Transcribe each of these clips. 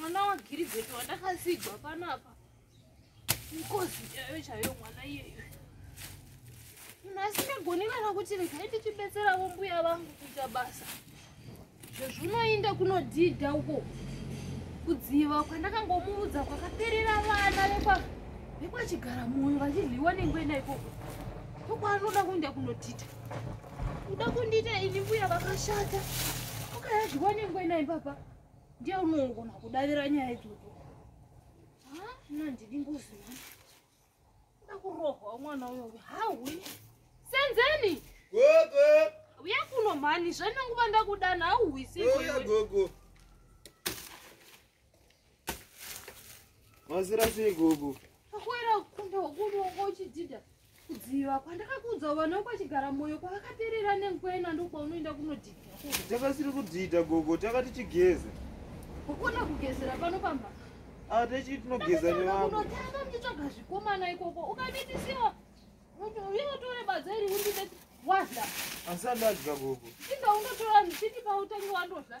mwana wagiribheti wandakasigwa panapa mkozi chayo chayo mwana iyeyo munhu asingagoni kana kuti regai tichibetseravo mbuya vangu kuita basa zvezvinoinda kunodhidha uko kudziva kwandakangomuudza kwakaperera vana vekwa vekwachigara moyo vachidliwa nengwena ikoko ndokwaanoda kuenda kunodhidha Uda kundiita ini mbuya vakashata. Ukayazviwa nengwe naye papa. Ndiye unongona kudavira nyaya idzodzo. Ah, nandidi ngozi mwana. Uda kurohwa mwana uyo. Hawi. Senzeni. Gogo. Uya kuno mhani, zvananguva ndakudana hauhwisi. Uya gogo. Mazira sei gogo? Akwera kunda ukunongo uchidida kudziva kwandakakuudza vana kwachigara moyo kwakaperera nenkwena ndokwaunoenda kunodida. Takasiri kudida gogo, takati tigeze. Ukona kugezera pano pamba. Ah, techi tinogeza nevamwe. Unotanga ndichoga zvikomana ikoko. Ukaditisiwa. Uyo tore badza iri undideti. Wadla. Asandadya gogo. Inda undotora ndichiti pautangi wandodla.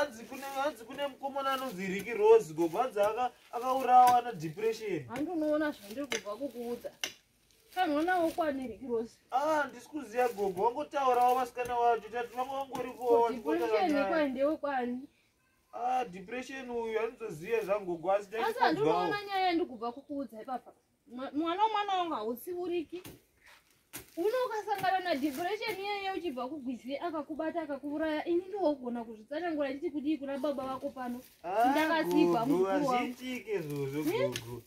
adzi kune adzi kune mukomana anonzi riki rose gogo adzi aka akaurawa na depression handi unoona zvandiri kubva kukuudza kanoona wokwane riki rose ah ndisi kuziva gogo wangotaurawo vasikana wacho tati vanga wangorikuoaeeekwa ndewekwani ah depression uyu andizoziva zvangogo asi asi handinoona nyaya yandikubva kukuudza ipapa Mwa- mwana wemwana wangu hautsiuriki uno ukasangana na depression iyeye uchibva kugwizi akakubata akakuuraya ini ndogona kuzvitsanangura nditi kudii kuna baba vako pano Ndakasipa Gugu, mukuru wangu. hazviitiki izvozvo gugu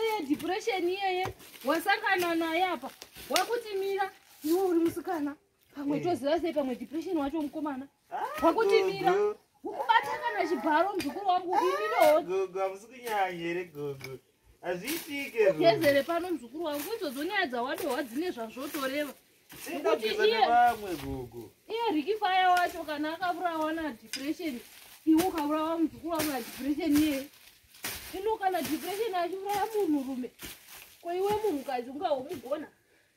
iye depression iyeye wasangana naye apa wakutimira iwe uri musikana pamwe Eh. toziva sei pamwe depression wacho mukomana Wakutimira. Ukubata kana chibharo mzukuru wangu ini no. Gogo hamusi kunyanya here gogo. Hazviitike. Ugezere pano mzukuru wangu izodzo nyaya dzawadohwa dzine zvazvotoreva. Singageza nevamwe gogo. Iye Ricky Fire wacho kana akaburawa na depression. Iwe ukaburawa mzukuru wangu na depression iye. Ino kana depression achiuraya munhu rume. Ko iwe munhukadzi ungaomugona.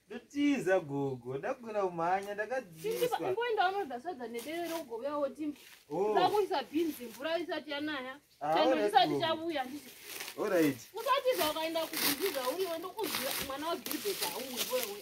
Ndotiza gogo, ndakugona kumhanya, ndakadziiswa. Ngoenda unodza sadza nedere rogovea woti oh. ndakuisa bhinzi mvura isati yanaya. Ah, Chando chisati chavuya ndichi. All right. Usati zvakaenda kubhinziza uyo ndokuziva mwana wa Gilbert auwe wewe.